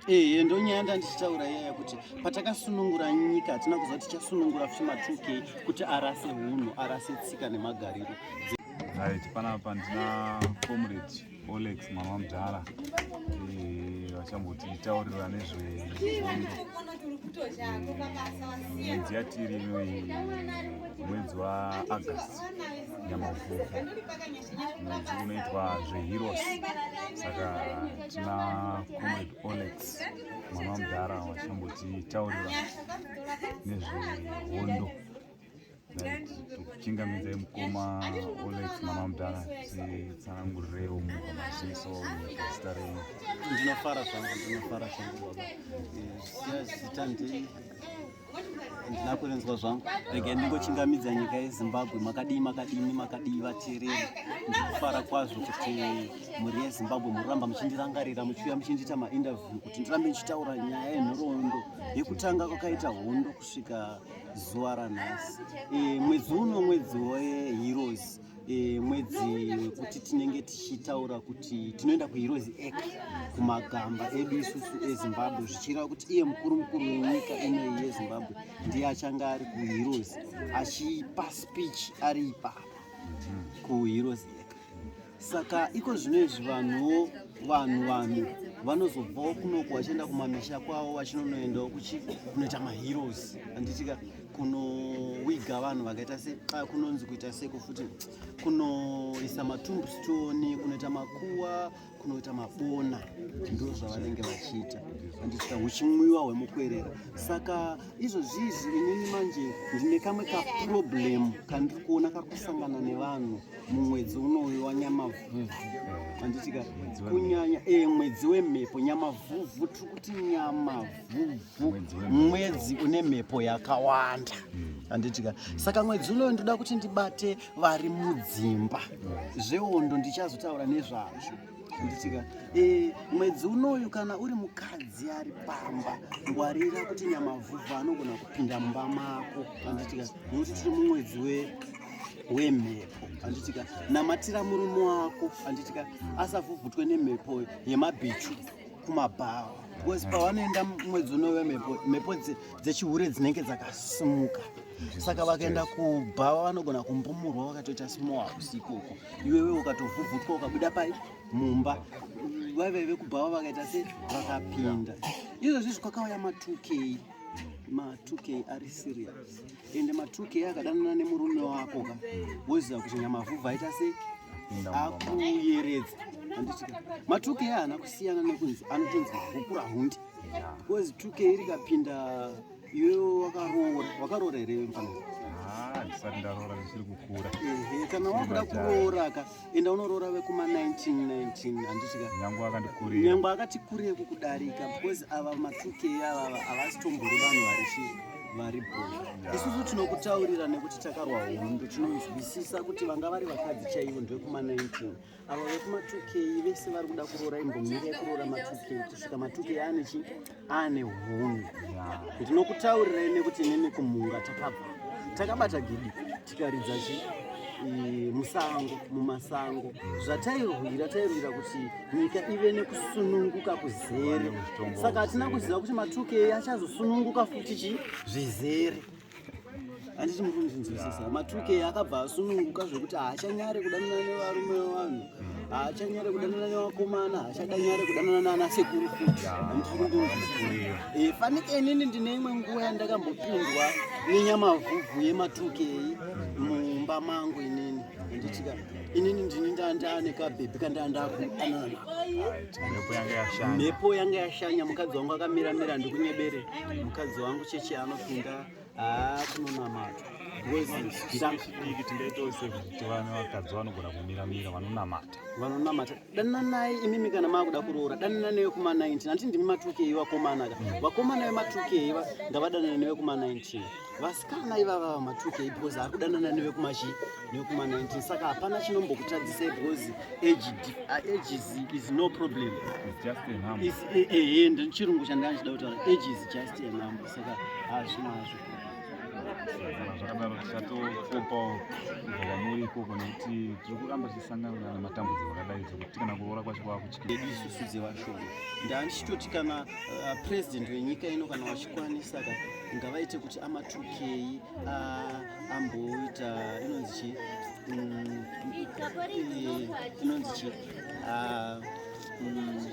Ehe eh, ndonyaya yandandichitaura iyaya kuti patakasunungura nyika hatina kuziva tichasunungura futi matuke kuti arase hunhu arase tsika nemagariro right panapa ndina comrade olex mwana wamudhara eh, vachambotitaurira nezvehondo eh, mwedzi yatiri inoyi mwedzi waaugust nyamavhuvhu munzi munoitwa zveheroes saka tina comrade olex mwana wamudhara wachambotiitaurira nezvehondo tokuchingamidzai mukoma olex mwana wamudhara titsanangurireiwo munhu maziso nezita renyu ndinofara zvangu ndinofara zvangu baba eh, zita ndii ndina kurinzwa zvangu rega ndingochingamidza nyika yezimbabwe makadii makadini makadii vateereri ndikufara kwazvo kuti mhuri yezimbabwe mururamba muchindirangarira muchiuya muchindiita mainterview kuti ndirambe ndichitaura nyaya yenhoroondo yekutanga kwakaita hondo kusvika zuva ranhasi e, mwedzi uno mwedzi weheroes e, mwedzi wekuti tinenge tichitaura kuti tinoenda kuheroes ac kumagamba edu isusu ezimbabwe zvichireva kuti iye mukuru mukuru wenyika inoyi yezimbabwe ndiye achange ari kuheroes achipa speech ari ipapa kuheroes ac saka iko zvino izvi vanhuwo vanhu vanhu vanozobvawo kunoko vachienda kumamisha kwavo vachinonoendawo kunoita maheroes anditika kunowiga vanhu vakaita se xa kunonzi kuita seko futi kunoisa matumbstone kunoita makuwa kunoita mabona ndo zvavanenge vachiita andiita huchimwiwa hwemukwerera saka izvozvizvi inini manje ndine kamwe kaproblem kandiri kuona kakusangana nevanhu mumwedzi unouyu wanyamavhuvhu anditika kunyanya e mwedzi wemhepo nyamavhuvhu tiri kuti nyamavhuvhu mwedzi une mhepo yakawanda handitika hmm. saka mwedzi unoyo ndoda kuti ndibate vari mudzimba hmm. zveondo ndichazotaura nezvazvo nditika e, mwedzi unoyu kana uri mukadzi ari pamba ngwarira kuti nyamavhuvha anogona kupinda mumba mako handitika nokuti tiri mumwedzi we wemhepo handitika namatira murume wako handitika asavhuvhutwe nemhepo yemabhichu kumabhawa because pavanoenda mwedzi unove mhepo dzechihure dzinenge dzakasimuka saka vakaenda kubha vanogona kumbumurwa vakatoita simowa hakusi ikoko iwewe ukatovhuvhutwa ukabuda pai mumba vaive vekubhava vakaita se vakapinda izvozvizvi kwakauya matukei ma 2k ari serious ende ma 2k akadanana nemurume wako ka woziva kuti nyamavhuvha aita sei akuyeredza anditika ma 2k haana kusiyana nekunzi anotonzi hukura hundi because 2k iri kapinda iwewo wakaroora wakaroora here mfanaa ndisati ndaroora zvichiri kukura kana wakuda kuroora ka enda unoroora vekuma 1919 handitika nyangwa akatikurira nyangwa akatikurira kukudarika because ava matuke ava havasi tombori vanhu vari chii vari bho isusu tinokutaurira nekuti takarwa hondo tinonzwisisa kuti vanga vari vakadzi chaivo ndevekuma 19 ava vekuma 2k vese vari kuda kuroora imbomira yekuroora ma 2k kusvika ma 2k ane chii ane hunhu ndinokutaurirai nekuti nene kumhunga takabva takabata gidi tikaridza chi musango mumasango zvatairwira tairwira kuti nyika ive nekusununguka kuzere saka hatina kuziva kuti matukei achazosununguka futi chi zvizere handiti muri kunzwisisa matuke akabva asununguka zvekuti haachanyare kudanana nevarume vevanhu haachanyare kudanana nevakomana haachadanyare kudanana naana sekuru futi eh, fanike inini ndine imwe nguva yandakambopindwa nenyamavhuvhu yematuke iyi mumba mangu inini handitika inini ndini ndaane kabhebhi kandaandakuanamhepo yanga yashanya mukadzi wangu akamira mira ndikunyebere mukadzi wangu chechi anopinda haa kunonamata ndingaitose kuti vana vakadzi vanogona kumira mira vanonamata vanonamata dananai imimi kana makuda kuroora danana newe kuma 19 handiti ndimi matukei vakomana ka vakomana vematukei ndavadanana newe kuma 19 vasikana ivava vamatukei because ari kudanana newe kumachi newe kuma 19 saka hapana chinombokutadzisai because ages is no problem ehe ndichirungu chandanga chida kutaura ages just a number saka hazvina hazvo zvakadaro tichatokopawo kubva kwamuri ikoko nekuti tiri kuramba tichisangana nematambudziko akadai zvekuti kana kuroora kwacho kwakutyiedu isusu dzevashoma ndandichitoti kana uh, president wenyika ino kana vachikwanisa ka ngavaite kuti amatukei uh, amboita inonzi chi mm, inonzi chi uh, mm,